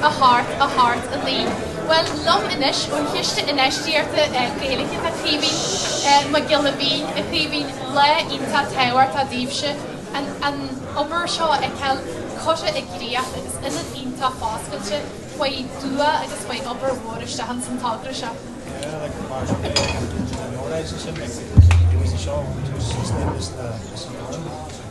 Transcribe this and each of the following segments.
thart linn, bhuel, liom anois, ón Chiste Infheistíochta Gaeilge, tá Caoimhín Mac Giolla Mhín. A Chaoimhín, lá iontach tábhachtach daoibhse an an obair seo a fheiceáil curtha i gcríoch agus ionad iontach foscailte faoi dhua agus faoi obair mhór isteach ins an togra seo. Yeah, like the march of the Legion of Norwich, it's in the, it was a show, it was just, it was the, it was the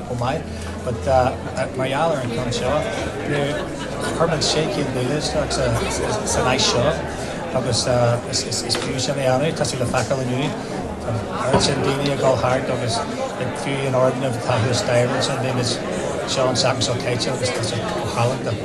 chomh maith. But mar gheall ar an gceann seo, chuir muid sé chéad míle isteach san áis seo agus is fiú sin a dhéanamh. Tá sé le feiceáil inniu, an oiread sin daoine ag dul thart agus fiú an foirgneamh atá thuas staighre ansin, bhí muid, Seán Sacas Ó Caite agus tá sé chomh hálainn.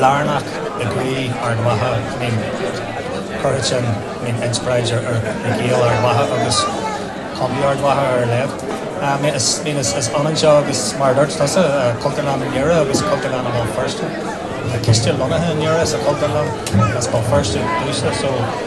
lárnach i gcroí Ard Mhacha, I mean, cuirfidh sin, I mean, inspioráid ar Ghaeil Ard Mhacha agus Contae Ard Mhacha ar a laghad. I mean is ionann seo agus, mar a dúirt tusa, Cultúrlann i nDoire agus Cultúrlann i mBéal Feirste. Tá ciste lonnaithe i nDoire sa Chultúrlann, agus Béal Feirste, so.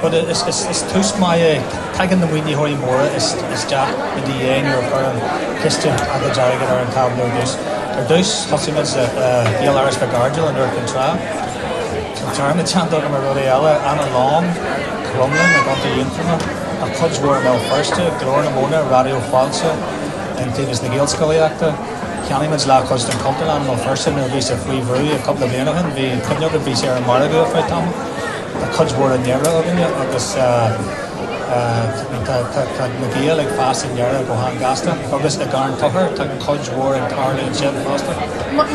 Bhuel, is tús maith é. Tagann na maoinitheoirí móra isteach i do dhiaidh nuair a chuireann Ciste giota airgid ar an tábla ar dtús. Ar dtús, thosaigh muid le Gaeláras Mhic Ardghail in Iúr Cinn Trá. Tá téarma teannta agam ar rudaí eile, Annalong, Cromghlinn i gContae Aontroma, ach cuid mhór i mBéal Feirste, Glór na Móna, Raidió Fáilte, Iontaobhas na Gaelscolaíochta. Cheannaigh muid leathchuid den Chultúrlann i mBéal Feirste nuair a bhí sé faoi bhrú, cúpla bliain ó shin. Mar is cuimhin liom, bhí sé ar an margadh ar feadh tamaill. Tá cuid mhór i nDoire againne agus tá na Gaeil ag fás i nDoire go han-ghasta agus i gCarn Tochair, tá cuid mhór ag tarlú ansin fosta.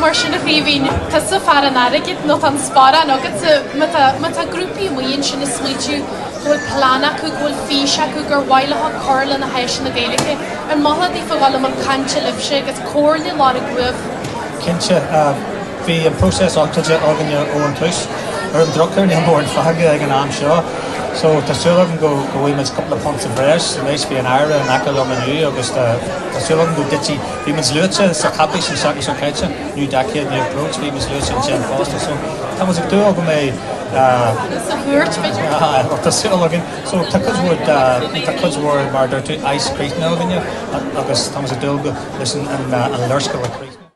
Mar sin, a Chaoimhín, tusa fear an airgid nó tá an sparán agatsa. Má tá grúpaí amuigh ansin ag smaoitiú go bhfuil plean acu, go bhfuil fís acu, gur mhaith leo cur leis na háiseanna Gaeilge, ar mhaith leat iad a ghabháil a chaint libhse agus comhairle a lorg uaibh? Cinnte. Bhí an próiseas oscailte againne ó an tús. Ar an drochuair níl móran fágtha ag an am seo so tá súil agam go bhfaighidh muid cúpla punt sa bhreis anois. Bhí an tAire in aice liom inniu agus tá súil agam go dtitfidh, bhí muid luaite sa chaipéis an tseachtain seo caite, New Decade, New Approach, bhí muid luaite ansin fosta so tá muid ag dúil go mbeidh, bhuel tá súil againn so tá cuid mhór de, tá cuid mhór mar a deir tú, aidh's críochnaithe againne agus tá muid ag dúil go, leis an léarscáil a chríochnú.